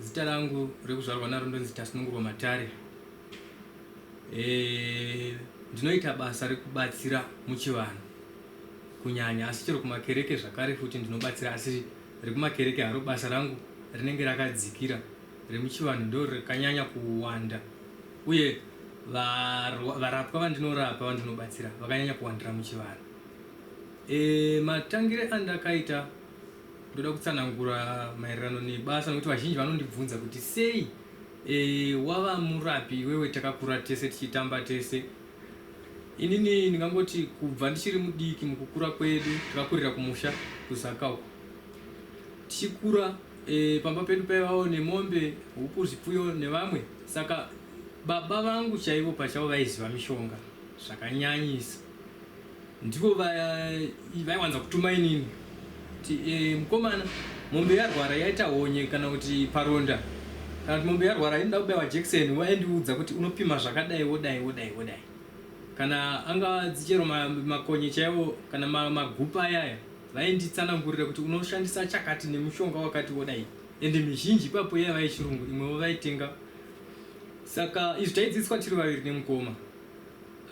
Zita rangu rekuzvarwa naro ndonzi Tasunungurwa Matare. Eh, ndinoita basa rekubatsira muchivanhu kunyanya asi chero kumakereke zvakare futi ndinobatsira asi rekumakereke haro basa rangu rinenge rakadzikira remuchivanhu ndo rakanyanya kuwanda uye varapwa vandinorapa vandinobatsira vakanyanya kuwandira muchivanhu e, matangire andakaita Ndoda kutsanangura maererano nebasa nokuti vazhinji vanondibvunza kuti sei e, wava murapi iwewe takakura tese tichitamba tese. Inini ndingangoti kubva ndichiri mudiki mukukura kwedu takakurira kumusha kuZaka uko. Tichikura e, pamba pedu paivawo nemombe, huku, zvipfuyo nevamwe saka baba vangu chaivo pachavo vaiziva mishonga zvakanyanyisa. Ndivo vaiwanza kutuma inini kuti e, mkomana mombe yarwara yaita honye kana kuti paronda kana kuti mombe yarwara inoda kubaiwa jekiseni vaindiudza kuti unopima zvakadai wodai wodai wodai kana anga dzichero makonye chaiwo kana magupa ayaya vainditsanangurira kuti unoshandisa chakati nemushonga wakati wodai ende mizhinji ipapo yaiva yechirungu imwewo vaitenga saka izvi taidzidziswa tiri vaviri nemukoma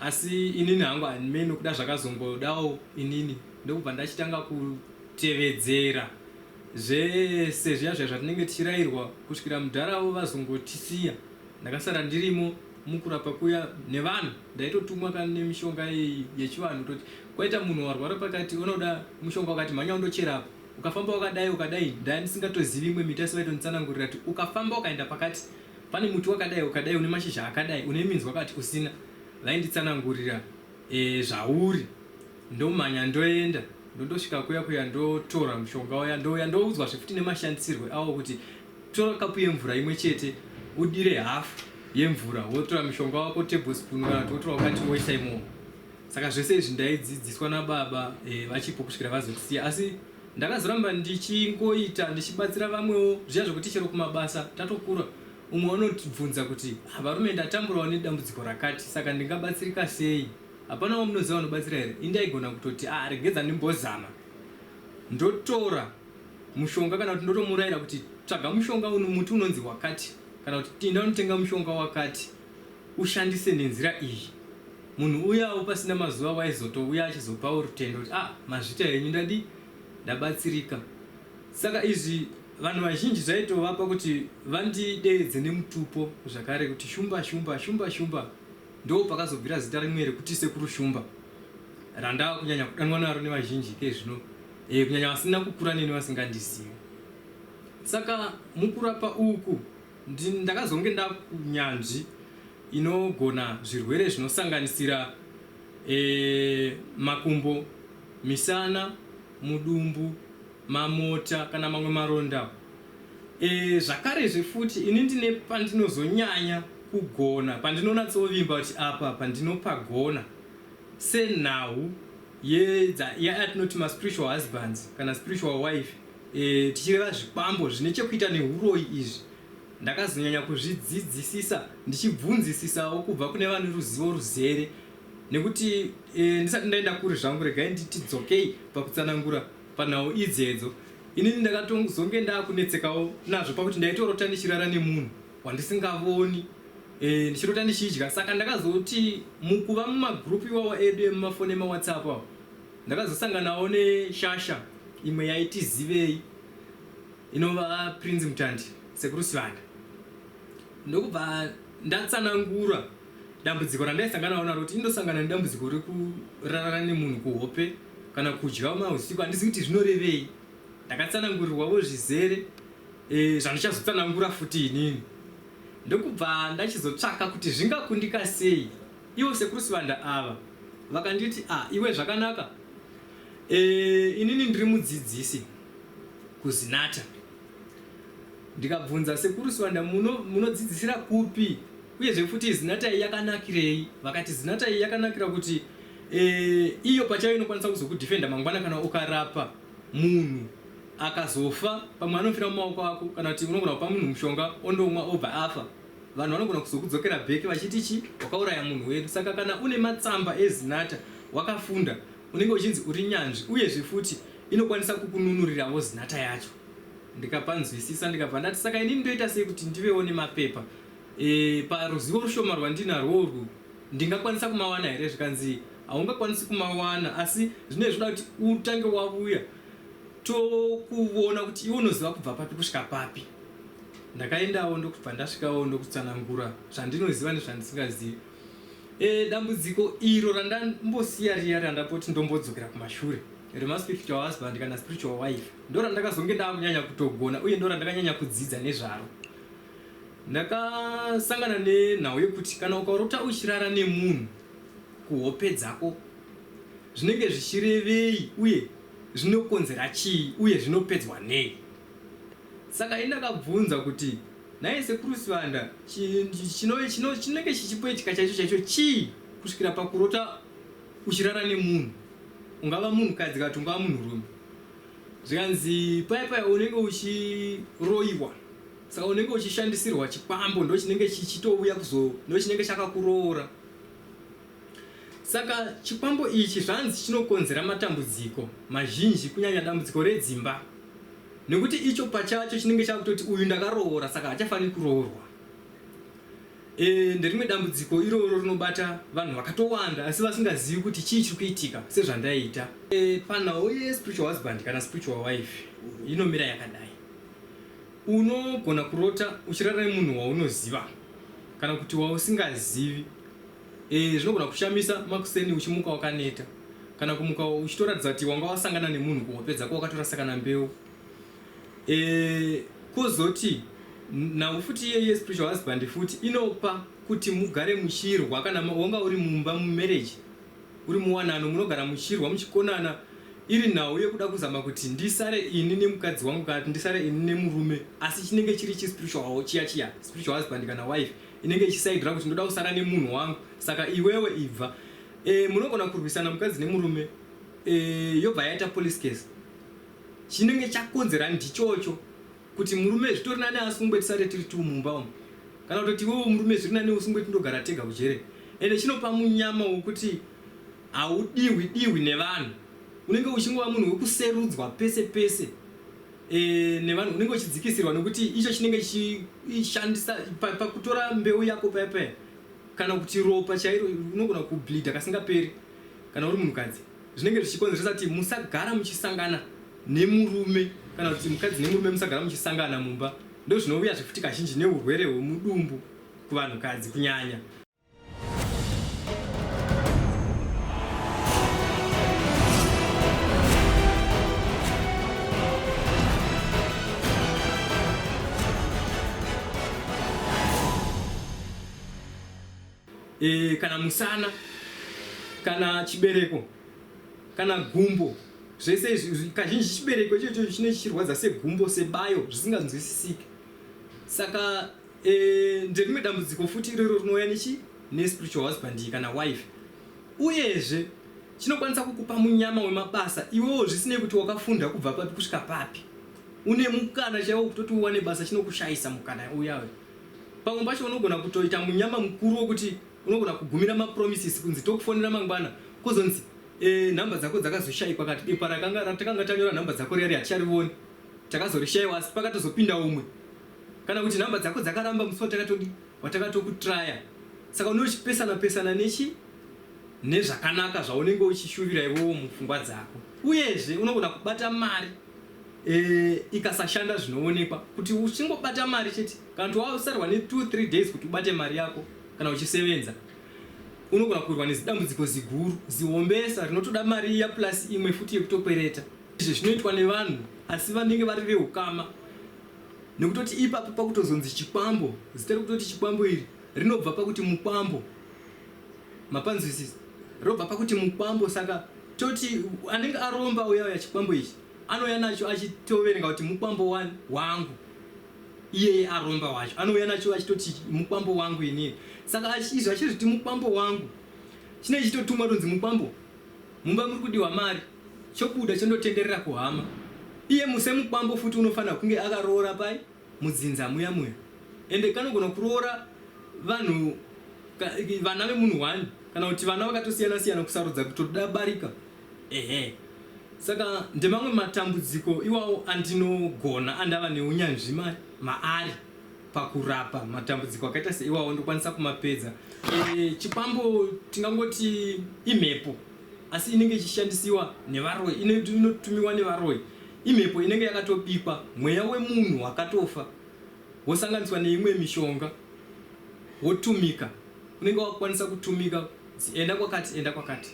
Asi inini hangu handimei nokuda zvakazongodawo inini ndokubva ndachitanga kutevedzera zvese zviya zviya zvatinenge tichirairwa kusvikira mudhara avo vazongotisiya. Ndakasara ndirimo mukurapa kuya nevanhu ndaitotumwa ka nemishonga iyi yechivanhu kutoti kwaita munhu warwara pakati unoda mushonga wakati mhanya undochera apa ukafamba wakadai ukadai ndaya ndisingatozivi imwe miti asi vaitonditsanangurira kuti ukafamba ukaenda pakati Pane muti wakadai ukadai une mashizha akadai une minzwa kati usina vainditsanangurira eh, zvauri ndomhanya ndoenda ndondosvika kuya kuya ndotora mushonga uya ndouya ndoudzwazve futi nemashandisirwe awo kuti tora kapu yemvura imwe chete udire hafu yemvura wotora mushonga wako tablespoon kana kuti wotora wakati woisa imomo saka zvese izvi ndaidzidziswa nababa eh, vachipo kusvikira vazotisiya asi Ndakazoramba ndichingoita ndichibatsira vamwewo zviya zvekuti chero kumabasa tatokura umwe anotibvunza kuti ah varume ndatamburawo nedambudziko rakati saka ndingabatsirika sei hapana wamunoziva vanobatsira here ini ndaigona kutoti ah regedza ndimbozama ndotora mushonga kana kuti ndotomuraira kuti tsvaga mushonga uno muti unonzi wakati kana kuti tinda unotenga mushonga wakati ushandise nenzira iyi munhu uyawo pasina mazuva waizotouya achizopawo rutendo kuti ah mazvita henyu ndadi ndabatsirika saka izvi vanhu vazhinji zvaitovapa kuti vandideedze nemutupo zvakare kuti shumba shumba shumba shumba ndo pakazobvira zita rimwe rekuti sekuru shumba randava kunyanya kudanwa naro nevazhinji ke zvino e, kunyanya vasina kukura neni vasingandizivi saka mukurapa uku Ndini ndakazonge ndakunyanzvi inogona zvirwere zvinosanganisira makumbo, misana, mudumbu, mamota kana mamwe maronda. Zvakarezve futi ini ndine pandinozonyanya kugona, pandinonatsovimba kuti apa pandinopagona senhau yatinoti maspiritual husbands kana spiritual wife E, tichireva zvikwambo zvine chekuita nehuroyi izvi, ndakazonyanya kuzvidzidzisisa ndichibvunzisisawo kubva kune vane ruzivo ruzere nekuti e, ndisati ndaenda kuri zvangu regai nditi dzokei pakutsanangura panhau idzedzo inini ndakatozonge ndakunetsekawo nazvo pakuti ndaitorota ndichirara nemunhu wandisingavoni e, ndichirota ndichidya saka ndakazoti mukuva mumagrupu iwawo edu emumafoni emawhatsapp awo Ndakazosanganawo neshasha imwe yaiti Zivei inova Prince Mutandi, Sekuru Sivanda, ndokubva ndatsanangura dambudziko randaisanganawo naro kuti ndosangana nedambudziko rekurarana nemunhu kuhope kana kudya mahusiku handizivi kuti zvinorevei. Ndakatsanangurirwavo zvizere zvandichazotsanangura futi inini ndokubva ndachizotsvaka kuti zvingakundika sei. Ivo sekuru Sibanda ava vakanditi ah iwe zvakanaka eh, inini ndiri mudzidzisi kuZinata ndikabvunza sekuru Sibanda munodzidzisira muno kupi uyezve futi Zinata iyi yakanakirei vakati Zinata iyi yakanakira kuti eh, iyo pachayo inokwanisa kuzokudefenda mangwana kana ukarapa munhu akazofa pamwe anofira mumaoko ako kana kuti unogona kupa munhu mushonga ondomwa obva afa Vanhu vanogona kuzokudzokera back vachiti chi wakauraya munhu wedu saka kana une matsamba eZinatha wakafunda unenge uchinzi uri nyanzvi uyezve futi inokwanisa kukununuriravo Zinatha yacho ndikapanzwisisa ndikabva ndati saka inini ndoita sei kuti ndivewo nemapepa e, paruzivo rushoma rwandinarwo urwu ndingakwanisa kumawana here zvikanzi haungakwanisi kumawana asi zvinenge zvoda kuti utange wavuya tokuvona kuti iwe unoziva kubva papi kusvika papi Ndakaendawo ndokubva ndasvikawo ndokutsanangura zvandinoziva nezvandisingazivi. E, dambudziko iro randambosiya riya randapoti ndombodzokera kumashure remaspiritual husband kana spiritual wife ndorandakazonge ndakunyanya kutogona uye ndorandakanyanya kudzidza nezvaro ndakasangana nenhau yekuti kana ukarota uchirara nemunhu kuhope dzako zvinenge zvichirevei uye zvinokonzera chii uye zvinopedzwa nei Saka ini ndakabvunza kuti nhai sekuru Sibanda chinenge chichipwetika chaicho chaicho chii kusvikira pakurota uchirara nemunhu ungava munhukadzi kati ungava munhurume zvikanzi paya paya unenge uchiroiwa saka unenge uchishandisirwa chikwambo ndo chinenge chichitouya kuzo ndo chinenge chakakuroora Saka chikwambo ichi zvanzi chinokonzera matambudziko mazhinji kunyanya dambudziko redzimba nekuti icho pachacho chinenge chakutoti uyu ndakaroora saka hachafaniri kuroorwa. E, nderimwe dambudziko iroro rinobata vanhu vakatowanda asi vasingazivi kuti chii chiri kuitika sezvandaita. E, panhau yespiritual husband kana spiritual wife inomira yakadai. Unogona kurota uchirara nemunhu waunoziva kana kuti wausingazivi E, zvinogona kushamisa makuseni uchimuka wakaneta kana kumuka uchitoratidza kuti wanga wasangana nemunhu kuhope dzako wakatorasa kana mbeu e, kozoti nhau futi iyeye spiritual husband futi inopa kuti mugare muchirwa kana wanga uri mumba mumarriage uri muwanano munogara muchirwa muchikonana iri nhau yekuda kuzama kuti ndisare ini nemukadzi wangu kana kuti ndisare ini nemurume asi chinenge chiri chispiritual chiya chiya spiritual husband kana wife inenge ichisaidira kuti ndoda kusara nemunhu wangu saka iwewe ibva e, munogona kurwisana mukadzi nemurume e, yobva yaita police case chinenge chakonzera ndichocho kuti murume zvitori nani asungwe tisare tiri tu mumba umu kana kutoti iwewo murume zviri nani usungwe tindogara tega kujere ende chinopa munyama wokuti haudiwi diwi nevanhu unenge uchingova munhu wekuserudzwa pese pese e, nevanhu unenge uchidzikisirwa nekuti icho chinenge chishandisa pakutora pa mbeu yako paya paya kana kuti ropa chairo unogona kubleeda kasingaperi kana uri munhukadzi zvinenge zvichikonzeresa kuti musagara muchisangana nemurume kana kuti mukadzi nemurume musagara muchisangana mumba ndozvinouyazve futi kazhinji neurwere hwemudumbu kuvanhukadzi kunyanya e, kana musana kana chibereko kana gumbo zvese izvi kazhinji chibereko ichocho chine chichirwadza segumbo sebayo zvisinganzwisisike saka Eh, nderimwe dambudziko futi iroro rinouya nechi nespiritual husband kana wife uyezve chinokwanisa kukupa munyama wemabasa iwewo zvisinei kuti wakafunda kubva papi kusvika papi une mukana chaiwo kutoti uwane basa chinokushayisa mukana uyawe pamwe pacho unogona kutoita munyama mukuru wokuti unogona kugumira mapromises kunzi tokufonera mangwana kozonzi e, nhamba dzako dzakazoshaikwa kati bepa rakanga ratakanga tanyora nhamba dzako riya riya ticharivoni takazorishaiwa asi pakatozopinda umwe Kana kuti number dzako dzakaramba musi watakatodi watakatokutraya saka unenge uchipesana pesana nechi nezvakanaka zvaunenge uchishuvira iwewo mupfungwa dzako uyezve unogona kubata mari e, ikasashanda zvinoonekwa kuti uchingobata mari chete kana kuti wausarwa ne 2 3 days kuti ubate mari yako kana uchisevenza unogona kurwa nezidambudziko ziguru zihombesa rinotoda mari iya plus imwe futi yekutokwereta izvi zvinoitwa nevanhu asi vanenge vari veukama Nekutoti ipapo pakutozonzi chikwambo, zita rekutoti chikwambo iri rinobva pakuti mukwambo. Mapanzwisisa? Robva pakuti mukwambo saka toti anenge aromba uya uya chikwambo ichi anouya nacho achitoverenga kuti mukwambo wani wangu. Iyeye aromba wacho anouya nacho achitoti mukwambo wangu ini. Saka izvi achizviti mukwambo wangu chinenge chitotumwa tonzi mukwambo mumba muri kudiwa mari. chobuda chondotenderera kuhama iye musemukwambo futi unofanira kunge akaroora pai mudzinza muya muya ende kanogona kuroora vanhu vana vemunhu one kana kuti vana vakatosiyana siyana kusarudza kutoda barika ehe saka ndemamwe matambudziko iwawo andinogona andava neunyanzvi maari pakurapa matambudziko akaita seiwawo ndokwanisa kumapedza e, chikwambo tingangoti imhepo asi inenge ichishandisiwa nevaroyi inotumiwa nevaroyi imhepo inenge yakatobikwa mweya wemunhu wakatofa wosanganiswa neimwe mishonga wotumika unenge wakukwanisa kutumika enda kwakati enda kwakati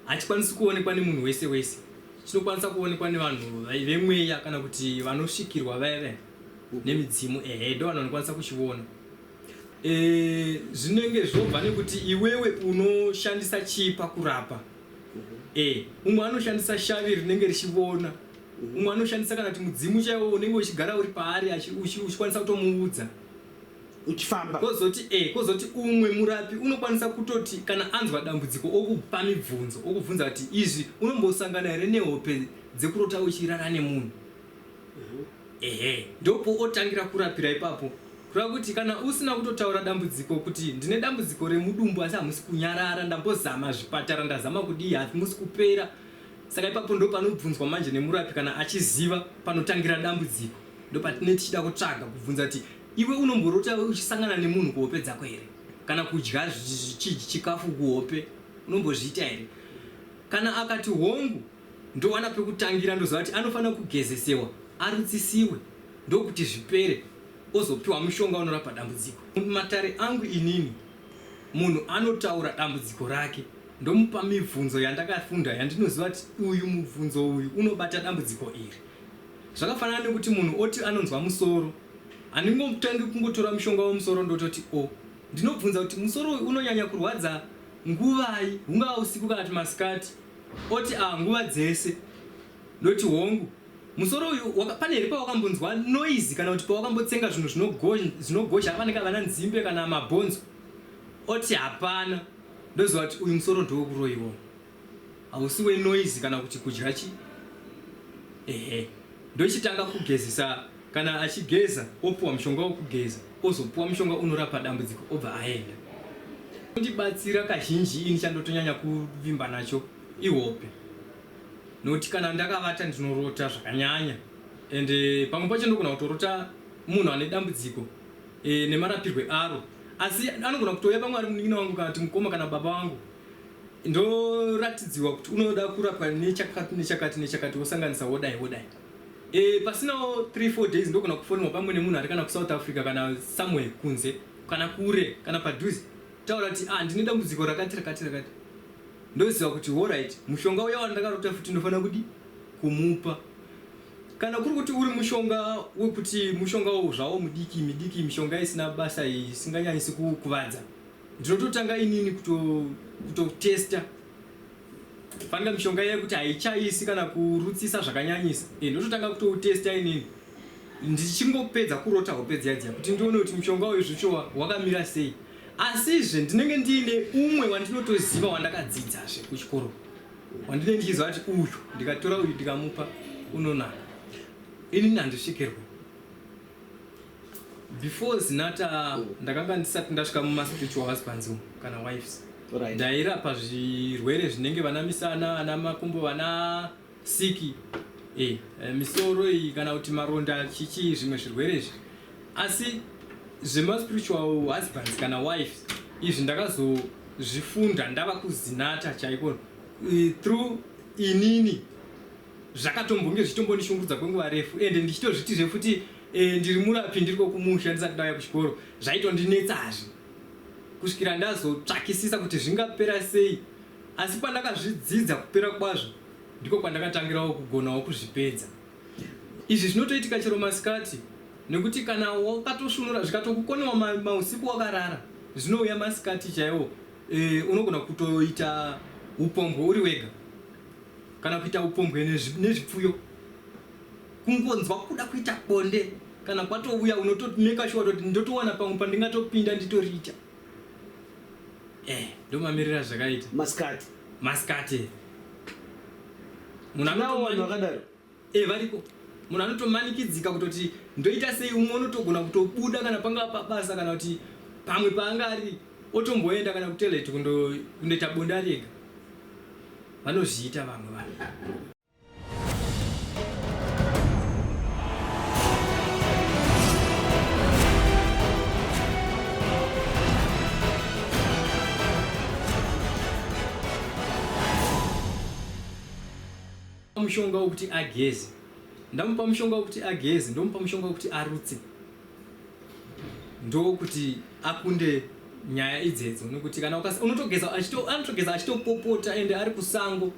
hachikwanisi kuonekwa nemunhu wese wese chinokwanisa kuonekwa nevanhu vemweya kana kuti vanosvikirwa vaya vaya nemidzimu ehe ndo vanhu vanokwanisa kuchiona Eh, zvinenge zvobva nekuti iwewe unoshandisa chii pakurapa eh, umwe anoshandisa shavi rinenge richivona umwe anoshandisa kana kuti mudzimu chaiwo unenge uchigara uri paari achi- uchi- uchikwanisa kutomuudza uchifamba kozoti eh, kozoti umwe murapi unokwanisa kutoti kana anzwa dambudziko okupa mibvunzo okubvunza kuti izvi unombosangana here nehope dzekurota uchirara nemunhu ehe ndopootangira kurapira ipapo kureva kuti kana usina kutotaura dambudziko kuti ndine dambudziko remudumbu asi hamusi kunyarara ndambozama zvipatara ndazama kudii hamusi kupera saka ipapo ndo panobvunzwa manje nemurapi kana achiziva panotangira dambudziko ndo patine tichida kutsvaga kubvunza kuti iwe unomborota uchisangana nemunhu kuhope dzako here kana kudya chikafu kuhope unombozviita here kana akati hongu ndowana pekutangira ndoziva kuti anofanira kugezesewa arutsisiwe ndokuti zvipere ozopiwa mushonga unorapa dambudziko. Mumatare angu inini munhu anotaura dambudziko rake ndomupa mibvunzo yandakafunda yandinoziva kuti uyu mubvunzo uyu unobata dambudziko iri. Zvakafanana nekuti munhu oti anonzwa musoro handingotangi kungotora mushonga wemusoro ndototi o. Ndinobvunza kuti musoro uyu unonyanya kurwadza nguvai hungava usiku kana kuti masikati Oti ah nguva dzese. Ndoti hongu. Musoro uyu waka, pane here pawakambonzwa noise kana kuti pawakambotsenga zvinhu zvinogozha pane kavana nzimbe kana mabhonzo? Oti hapana. Ndoziva kuti uyu musoro ndewekuroiwa. Hausi wenoise kana kuti kudya chi. Ehe. Ndochitanga kugezesa. Kana achigeza opuwa mushonga wokugeza ozopuwa mushonga unorapa dambudziko obva aenda. Chinondibatsira kazhinji ini chandotonyanya kuvimba nacho ihope nokuti kana ndakavata ndinorota zvakanyanya and pamwe pacho ndogona kutorota munhu ane dambudziko e, nemarapirwe aro asi anogona kutouya pamwe ari munin'ina wangu kana kuti mukoma kana baba wangu ndoratidziwa kuti unoda kurapwa nechakati nechakati nechakati wosanganisa wodai wodai Eh, pasinawo 3 4 days ndogona kufonwa pamwe nemunhu ari kana kuSouth Africa kana somewhere kunze kana kure kana padhuze taura kuti ah ndine dambudziko rakati rakati rakati ndoziva kuti horait mushonga uya wandakarota futi ndofanira kudi kumupa kana kuri kuti uri mushonga wekuti mushonga wo zvawo mudiki midiki mishonga isina basa isinganyanyisi kukuvadza ndinototanga inini kutotesta kuto Fanira mishonga iye kuti haichaisi kana kurutsisa zvakanyanyisa e, ndototanga kutoutesta inini ndichingopedza kurota hope dziya dziya kuti ndione kuti mushonga uyu zvichowa wakamira sei asizve ndinenge ndiine umwe wandinotoziva wandakadzidzazve kuchikoro wandinenge ndichiziva kuti uyu ndikatora uyu ndikamupa unonaka inini handisvikirwe before zinata ndakanga ndisati ndasvika muma spiritual husbands umu kana wives Right. ndairapa zvirwere zvinenge vana misana ana makumbo vana siki eh, eh, misoro iyi kana kuti maronda chichi zvimwe zvirwere izvi asi zvema spiritual husbands kana wives izvi ndakazozvifunda ndava kuzinata chaiko eh, through inini zvakatombonge zvitombondishungurudza kwenguva refu ende ndichitozvitizve futi Eh, ndiri murapi ndiriko kumusha ndisati ndauya kuchikoro zvaitondinetsa hazvi kusvikira ndazotsvakisisa kuti zvingapera sei asi pandakazvidzidza kupera kwazvo ndiko kwandakatangirawo kugonawo kuzvipedza izvi zvinotoitika chero masikati nekuti kana wakatosvunura zvikatokukonewa mausiku wakarara zvinouya masikati chaiwo e, unogona kutoita upombwe uri wega kana kuita upombwe nezvipfuyo kungonzwa kuda kuita bonde kana kwatouya unotomeka shuwa toti ndotowana pamwe pandingatopinda nditoriita eh ndomamirira zvakaita maskati maskati munhu nawo vanhu vakadaro eh variko munhu anotomanikidzika kutoti ndoita sei umwe unotogona kutobuda kana pangava pabasa kana kuti pamwe paanga ari otomboenda kana kutoilet kundoita bonde ari ega vanozviita vamwe vanhu mushonga wekuti ageze ndamupa mushonga wekuti ageze ndomupa mushonga wekuti arutse ndokuti akunde nyaya idzedzo nekuti kana unotogeza anotogeza achitopopota ende ari kusango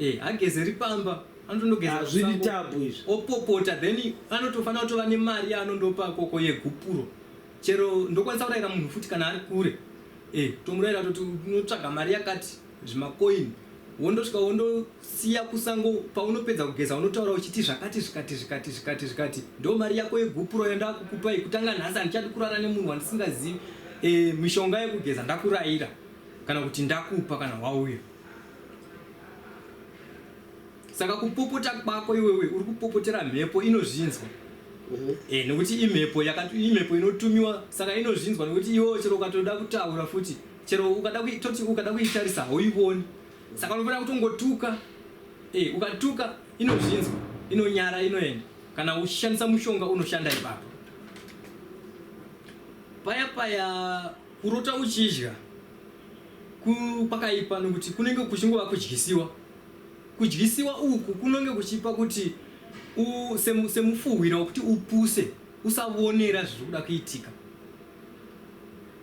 eh hagezeri pamba anotondogeza Ah, zviri kusango, tabu izvi. opopota then anotofanira kutova nemari yaanondopa koko yegupuro chero ndokwanisa kurayira munhu futi kana ari kure eh tomurayira toti unotsvaga mari yakati zvimakoini wondosvika wondosiya kusango paunopedza kugeza unotaura uchiti zvakati zvikati zvikati zvikati zvikati ndo mari yako yegupuro yandakukupai kutanga nhasi handichadi kurara nemunhu wandisingazivi eh, mishonga yekugeza ndakurayira kana kuti ndakupa kana wauya saka kupopota kwako iwewe uri kupopotera mhepo inozvinzwa mhm. eh, nekuti imhepo imhepo inotumiwa saka inozvinzwa nekuti iwewe chero ukatoda kutaura futi chero ukada toti ukada kuitarisa hauivoni saka unofanira kutongotuka eh, ukatuka inozvinzwa inonyara inoenda kana uchishandisa mushonga unoshanda ipapo paya paya kurota uchidya kwakaipa nokuti kunenge kuchingova kudyisiwa. Kudyisiwa uku kunenge kuchipa kuti semufuhwira wekuti upuse usavonera zviri kuda kuitika.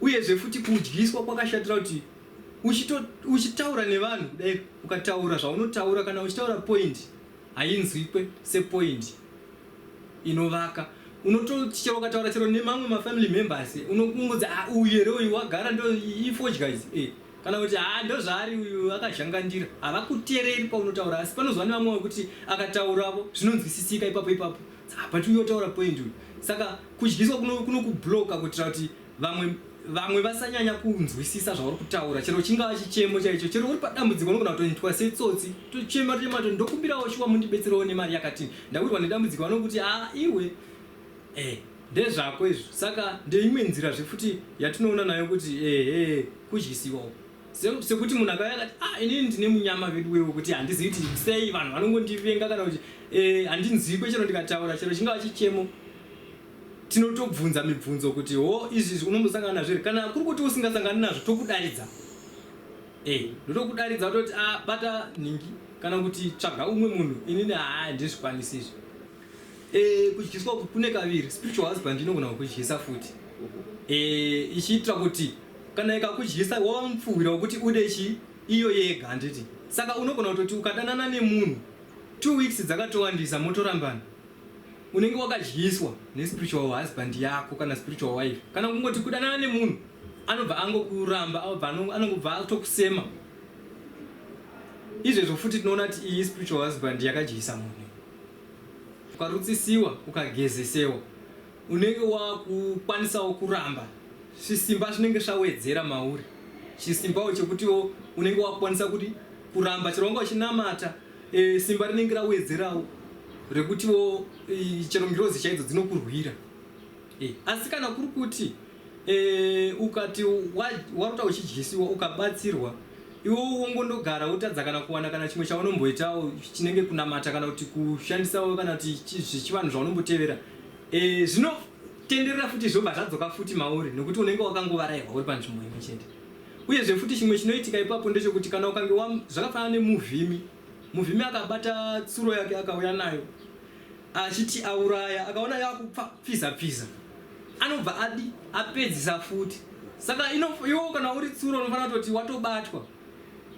Uyezve futi kudyiswa kwakashatira kuti uchitaura nevanhu kudai ukataura zvaunotaura kana uchitaura point hainzwikwe sepoint. inovaka unototi chero ukataura chero nemamwe mafamily members eh, unokumbudza ah, uyu here uyu wagara ndo ifodya izi eh, kana kuti ha ah, ndozvaari uyu akazhangandira havakutereri paunotaura asi panozuva nevamwe wekuti akatauravo zvinonzwisisika ipapo ipapo but uyotaura point uyu saka kudyiswa kunokubloka kuitira kuti vamwe vamwe vasanyanya kunzwisisa zvauri kutaura chero chingava chichemo chaicho chero uri padambudziko unogona kutoitwa setsotsi tochema tochema to ndokumbirawo shuwa mundibetserewo nemari yakati ndawirwa nedambudziko vanokuti a ah, iwe e ndezvako izvo saka ndeimwe nzira zvefuti yatinoona nayo kuti ehe kudyisiwa uko sekuti munhu akauya akati a ah, inini ndine munyama vedu wewe kuti handizivi kuti sei vanhu vanongondivenga kana kuti eh, handinzikwe chero ndikataura chero chingava chichemo tinotobvunza mibvunzo kuti ho izvi unombosangana nazvo here kana kuri kuti usingasangani nazvo tokudaridza e ndotokudaridza toti a ah, bata nhingi kana kuti tsvaga umwe munhu inini haa ndizvikwanisi izvi e kudyiswa kune kaviri spiritual husband inogona kukudyisa futi e ichiitira kuti kana ikakudyisa wava mupfuhwira wekuti ude chii iyo yega handiti saka unogona kutoti ukadanana nemunhu two weeks dzakatowandisa motorambana unenge wakadyiswa nespiritual husband yako kana spiritual wife kana kungoti kudanana nemunhu anobva angokuramba anongobva atokusema izvezvo futi tinoona kuti iyi spiritual husband yakadyisa munhu ukarutsisiwa ukagezesewa unenge wakukwanisawo kuramba zvisimba zvinenge zvawedzera mauri chisimbawo chekutiwo unenge wakukwanisa kuti kuramba chero wanga uchinamata E, simba rinenge rawedzerawo rekutiwo e, chero ngirozi chaidzo dzinokurwira e, asi kana kuri kuti e, ukati warota uchidyisiwa ukabatsirwa iwo wongondogara wotadza kana kuwana kana chimwe chaunomboitawo chinenge kunamata kana kuti kushandisawo kana kuti zvechivanhu zvaunombotevera e, zvinotenderera futi zvobva zvadzoka futi mauri nokuti unenge wakangovarairwa uri panzvimbo imwe chete Uyezve futi chimwe chinoitika ipapo ndechokuti kana ukange wa zvakafanana nemuvhimi muvhimi akabata tsuro yake akauya nayo achiti auraya akaona yakupfiza pfiza anobva adi apedzisa futi saka iwo kana uri tsuro unofanira kutoti watobatwa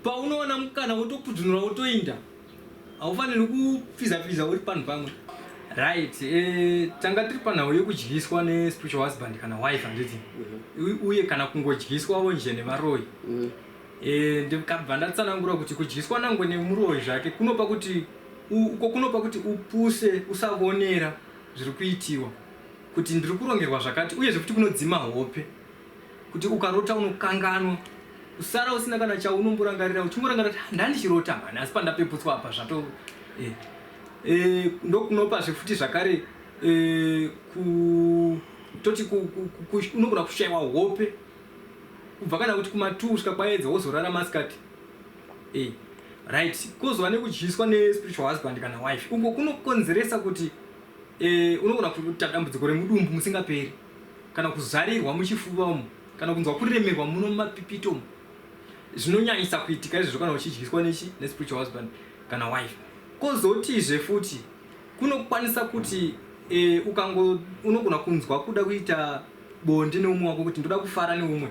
paunoona mukana wotopudunura wotoinda haufanirwi kupfiza pfiza uri panhu pamwe right eh, tanga tiri panhau yekudyiswa nespiritual husband kana wife handiti mm-hmm. uye kana kungodyiswawo nje nevaroyi mm-hmm. eh, ndikabva ndatsanangura kuti kudyiswa nangwe nemuroyi zvake kunopa kuti uko kunopa kuti upuse usavonera zviri kuitiwa kuti ndiri kurongerwa zvakati uyezve kuti kunodzima hope kuti ukarota unokanganwa kusara usina kana chaunomborangarira uchingorangarira kuti ah, ndandichirota mhani asi pandapeputswa apa zvato eh, eh, ndokunopazve futi zvakare eh, toti unogona kushaiwa hope kubva kana kuti kumatuu kusvika kwaedza wozorara masikati eh, right kozova nekudyiswa nespiritual husband kana wife uko kunokonzeresa kuti eh, unogona kuta dambudziko remudumbu musingaperi kana kuzarirwa muchifuva umu kana kunzwa kuremerwa muno mumapipiti umu zvinonyanyisa kuitika izvozvo kana uchidyiswa nechi nespiritual husband kana wife kozotizve futi kunokwanisa kuti e, ukango unogona kunzwa kuda kuita bonde neumwe wako kuti ndoda kufara neumwe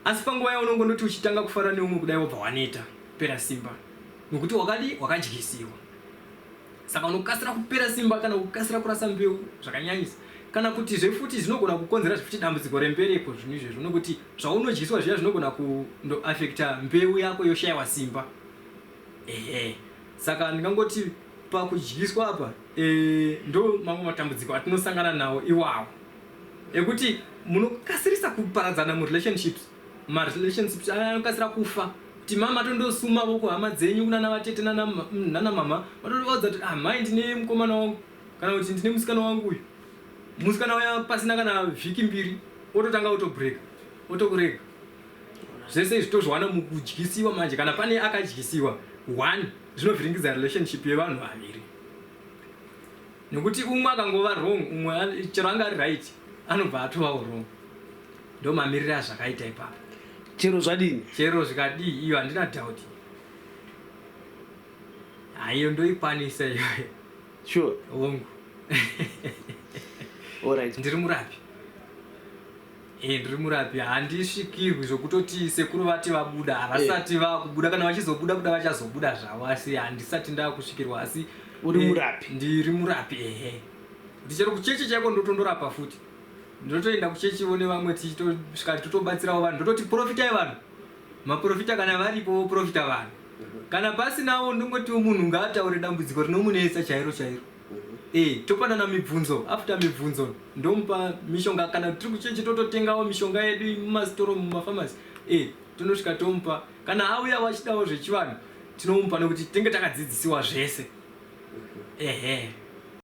asi panguva yaunongo ndoti uchitanga kufara neumwe kudai wobva waneta pera simba nokuti wakadi wakadyisiwa Saka unokasira kupera simba kana kukasira kurasa mbeu zvakanyanyisa kana kutizve futi zvinogona kukonzera zvifuti dambudziko rembereko zvinhu izvezvo nokuti zvaunodyiswa zviya zvinogona kundoafekta mbeu yako yoshayiwa simba ehe saka ndingangoti pakudyiswa apa e, ndo mamwe matambudziko atinosangana nawo iwawo ekuti munokasirisa kuparadzana murelationships ma relationships aya anokasira kufa kuti mama tondosuma voko hama dzenyu kunana vatete nana nana mama vatovaudza kuti ah mai ndine mukomana wangu kana kuti ndine musikana wangu uyu musikana uya pasina kana vhiki mbiri ototanga otobreka otokurega zvese izvi tozviwana mukudyisiwa manje kana pane akadyisiwa one zvinovhiringidza relationship yevanhu vaviri nekuti umwe akangova wrong umwe chero anga ari right anobva atovawo wrong ndomamirira zvakaita ipapo chero zvadini chero zvikadii iyo handina doubt haiyo ndoikwanisa iyoyo sure hongu alright ndiri murapi e ndiri murapi handisvikirwi zvokutoti sekuru vati vabuda havasati eh. vakubuda kana vachizobuda kuda vachazobuda zvavo asi handisati ndakusvikirwa asi uri eh, murapi ndiri murapi ehe ndichero kucheche chaiko ndotondorapa futi ndotoenda kuchechivo nevamwe tichitosvika totobatsirawo vanhu ndototi porofitai vanhu maprofita kana varipo voprofita vanhu kana pasinawo ndongotiwo munhu ngaataure dambudziko rinomunetsa chairo chairo e topanana mibvunzo after mibvunzo ndomupa mishonga kana tiri kuchechi tototengawo mishonga yedu mumasitoro mumafamasi e tonosvika tomupa kana auya wachidawo zvechivanhu tinomupa nekuti tinenge takadzidzisiwa zvese ehe